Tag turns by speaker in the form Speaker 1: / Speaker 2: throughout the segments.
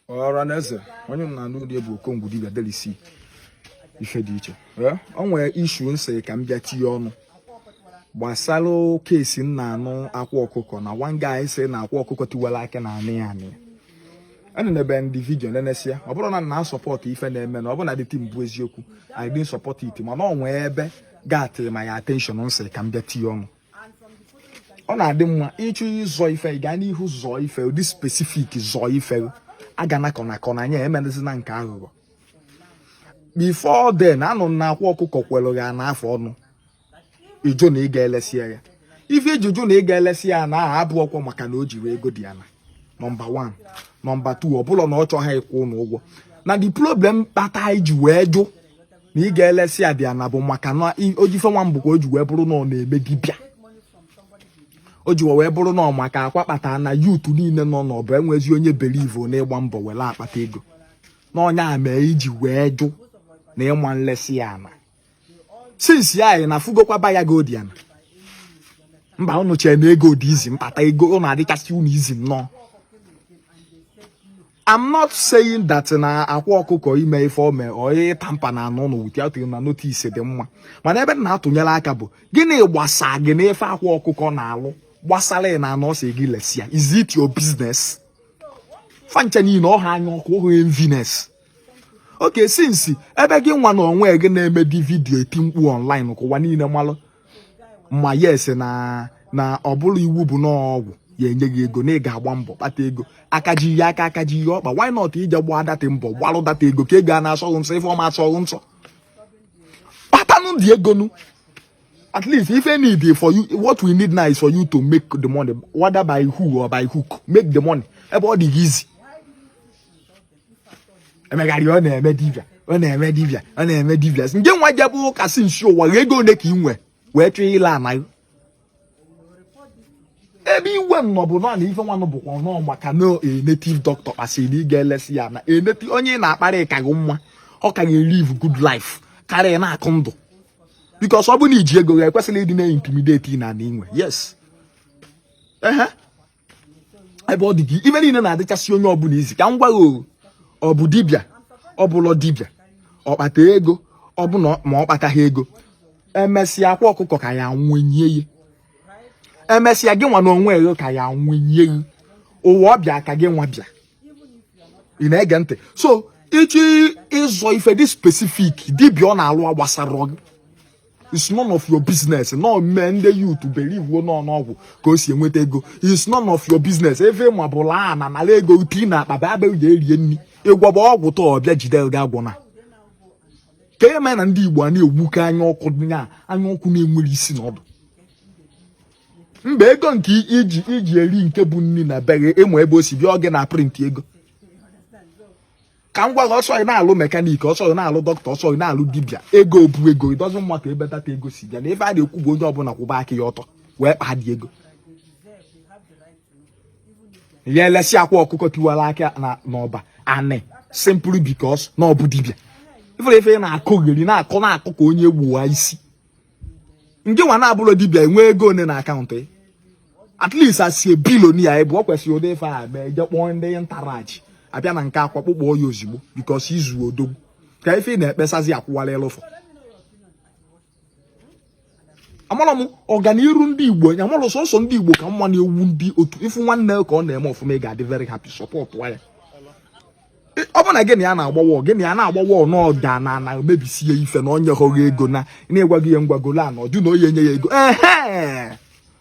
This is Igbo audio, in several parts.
Speaker 1: ọra na eze onye m na-anụ ụdị bụ okongwu dibia delisi ife dị iche ọ nwere issue nsị ka m bịa tinye ọnụ gbasara case m na-anụ akwa ọkụkọ na one guy sị na akwa ọkụkọ tiwara aka na anị ya anị enenebe ndị vidio nenesia ọ bụrọ na m na-asupport ife na-eme na ọ bụrụ na the thing bụ eziokwu I didn't support it mana ọ nwee ebe got my attention nsị ka m bịa tinye ọnụ ọ na-adị mma ị chọọ ịzọ ife ị gaa n'ihu zọọ ife dị specific zọọ ife a ga nakọ nakọ na anya emerezina nke aghụghọ before then anụ na akwa ọkụkọ kwelụ ya ana afụ ọnụ ị jụ na ị ga-elesi ya ife i ji jụ na ị ga-elesi ya ana ahụ abụrọkwọ maka na o jirọ ego the ana nọmba 1 nọmba 2 ọ bụlọ na ọ chọghị ịkwụ ụnụ ụgwọ na the problem kpata i ji wee jụ na ị ga-elesi ya the ana bụ maka na ojife nwa mbụ ka o ji wee bụrụ na ọ na-eme dibịa o ji wee bụrụ na ọ maka akwa kpata na youth niile nọ n'ọbụ enwezi onye believe na ịgba mbọ were akpata ego na ọ nya mee i ji wee jụ na ị ma elesi ya ana since ya anyị na fụgokwa buyer ga-ego the ana mba ụnụ chee na ego dị easy mkpata ego ọ na-adịchasị ụnụ easy nnọọ I'm not saying that na akwa ọkụkọ ime ife o mee ọ tamper na ana ụnụ without na notice dị mma mana ebe na-atụnyere aka bụ gịnị gbasa gị n'ife akwa ọkụkọ na-alụ gbasara na ana ọ sị gị lesi ya is it your business fancha niile ọ bụ anya ọkụ ọ bụ enviness okay since ebe gị nwa na onwe gị na-eme the video eti mkpu online ka ụwa niile malụ ma yes na na ọ bụrụ iwu bụ n'ọgwụ ya enye gị ego na ị ga-agba mbọ kpata ego aka ji ihe aka aka ji ihe ọkpa why not ị jee gbaa that mbọ kpalụ that ego ka ego ọ na-asọ gị nsọ ife ọma asọ gị nsọ kpatanụ the ego nụ at least ife anyị need for you what we need now is for you to make the money whether by who or by hook make the money ebe ọ dị gị easy emegharị ọ na-eme dibịa ọ na-eme dibịa ọ na-eme dibịa sị, ngị nwa jebe ụka since ụwa gị ego ole ka ị nwe wee chọọ ile ana gị ebe iwe m nọ bụ na na ife nwanụ bụkwa nọ maka na a native doctor ka ị sịrị na ị ga-elesi ya ana eneti onye ị na-akparị ka gị mma ọ ka gị elive good life karịa na-akụ ndụ because ọ bụ na i ji ego gị ekwesịrị ịdị na-intimidate ị na na inwe yes ehe ebe ọ dị gị ife niile na-adịchasị onye ọbụla easy ka m gwa gị ọ bụ dibịa ọ bụlọ dibịa ọ kpata ego ọ bụ na ma ọ kpataghị ego emesịa akwa ọkụkọ ka ya nwụnye ya emesịa gị nwa na onwe gị ka ya nwụnye ya ụwa ọ bịa ka gị nwa bịa ị na-ege ntị so ị chọọ ịzọ ife dị specific dibịa ọ na-alụ gbasara gị it's none of your business na o mee ndị youth biliivuo na ọ n'ọgwụ ka o si enweta ego it's none of your business even ma ọ bụlụ na ọ nara ego tii na akpa bịa bịa ga erie nri ịgwọba ọgwụ tọ ọbịa jide gị agwọ na ka e mee na ndị igbo a na-egbuke anya ọkụ nya anya ọkụ na-enwerọ isi na ọdụ mba ego nke iji iji eri nke bụ nri na be gị ị ma ebe o si bịa ọ gị na-aprint ego ka m gwa gị ọ sọ ị na-alụ mekanik ọ sọ ị na-alụ dọkịta ọ sọ ị na-alụ dibịa ego bụ ego it doesn't matter ebe that ego si bịa na ife a na-ekwu bụ onye ọbụla kwụba aka ya ọtọ wee kpaa the ego ị ya-elesi akwa ọkụkọ tiwara akị n'ọba anị simply because na ọ bụ dibịa ị fụla ife ị na-akọgheri na-akọ ka onye gbuwa isi ngị nwa na-abụrọ dibịa i nwe ego one na akaụntụ at least he's a billionaire ebe ọ kwesịrị ụdị ife a mee je kpọọ ndị ntarach abịa na nke akwa kpụkpọ ya ozugbo because he's odogwu ka ife ị na-ekpesazi akwụwala ịlụfọ amara m ọganiru ndị igbo anya mara sọsọ ndị igbo ka mma na-ewu ndị otu ị fụ nwanne ka ọ na-eme ọfụma ị ga-adị very happy support ya ọ bụ na gị na ya na-agbawa gị na ya na-agbawa n'ọda na na mebisie ife na onye hụghị ego na na-egwaghị ya ngwagolo a na ọjụ na onye enye ya ego ehe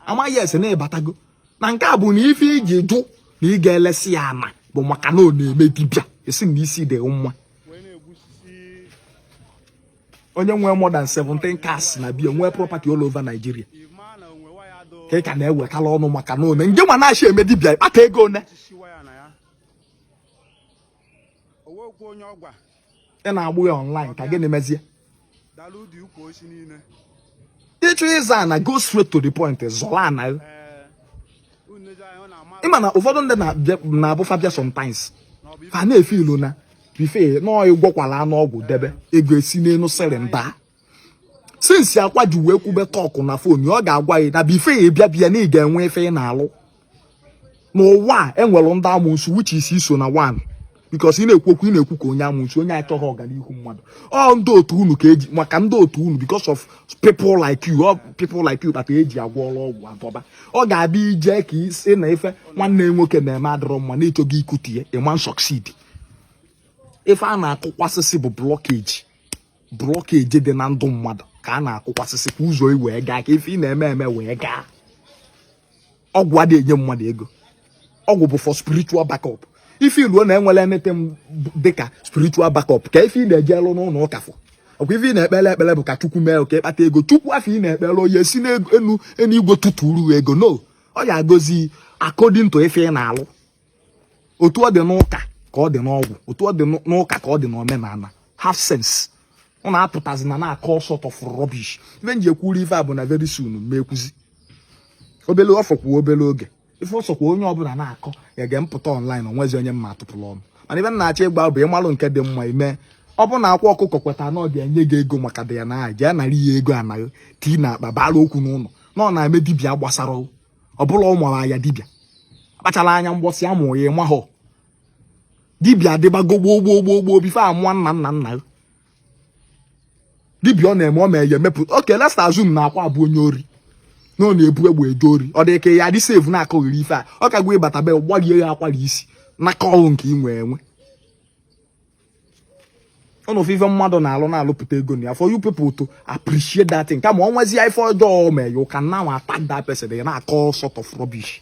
Speaker 1: amaghị ese na-ebatago na nke a bụ na ife iji jụ na ị ga-elesi ya ana bụ maka na ọ na-eme dibịa a sị na isi dị gị mma onye nwee more than 17 cars na be ya nwee property all over Nigeria ka ị ka na-ewetala ọnụ maka na one ngị nwa na-adịghị eme dibịa ị kpata ego one ị na-agbụ ya online ka gịnị mezie ị chọọ ịzọ ana go straight to the point zọrọ ana eh, ịma na ụfọdụ ndị na-abụ fa bịa sometimes ha na-efiilu na before you know ị gwọkwalanụ ọgwụ debe ego esi n'elu sịrị nda since akwa ji wee kwube talk na fon ọ ga-agwa gị na before ị ya-abịa be ya na ị ga-enwe ife ị na-alụ n'ụwa a enwere ndị amosu which is i so na one because ị na-ekwu okwu ị na-ekwu ka onye amosu onye achọghị ọganihu mmadụ ọ ndị otu unu ka eji maka ndị otu unu because of people like you ọ people like you kpata eji agwọ ọgwụ adọba ọ ga-abịa ije ka ị sị na ife nwanne nwoke na-eme adịrọ mma na-achọ ịkụtu ya ị ma succeed ife a na-akụkwasịsị bụ blockage blockage dị na ndụ mmadụ ka a na-akụkwasịsị ka ụzọ gị wee gaa ka ife ị na-eme eme wee gaa ọgwụ adịghị enye mmadụ ego ọgwụ bụ for spiritual backup ị fiiluo na enwerọ anything dịka spiritual backup kee ife ị na-eje alụ n'ụlọ ụka for ọkwa ife ị na-ekpele ekpele bụ ka chukwu mee ka ị kpata ego chukwu afụ ị na-ekpele ọ ya-esi n'enu igwe tụtụrụ ego no ọ ya-agọzi according to ife ị na-alụ otu ọ dị n'ụka ka ọ dị n'ọgwụ otu ọ dị n'ụka ka ọ dị n'omenala have sense ọ na-apụtazi na na-akọ all sort of rubbish ife m ji ekwuru ife a bụ na very soon ma ekwuzi obele ọ fọkwa obele oge ife ọ sọkwa onye ọbụla na-akọ ya ga-apụta online o nwezi onye m ma atụpụrụ ọnụ mana ife na-achọ ịgba bụ ịmalụ nke dị mma i mee ọ bụ na Akwa Ọkụkọ kweta na ọ ga-enye gị ego maka dị ya na aha jee nara ya ego anaghị tii na akpa bara okwu n'ụlọ na ọ na-eme dibịa gbasara ọ bụla ọ mara ya dibịa kpachara anya mbọsị a mụ ya ị mahọ dibịa adịbago gboo gboo gboo gboo before a mụọ nna nna nna ya dibịa ọ na-eme ọ ma ya emepụta okay let's assume na Akwa bụ onye ori na ọ na-ebu egbe eje ori ọ dị ka ị ya-adị safe na-akọghịrị ife a ọ kagwa ịbata be gbarie ya akwara isi na kọlụ nke ị nwee enwe ụnụ afụ ife mmadụ na-alụ na-alụpụta ego na ya for you people to appreciate that thing kama o nwezie ife ọjọọ mee you can now attack that person na-akọ sort of rubbish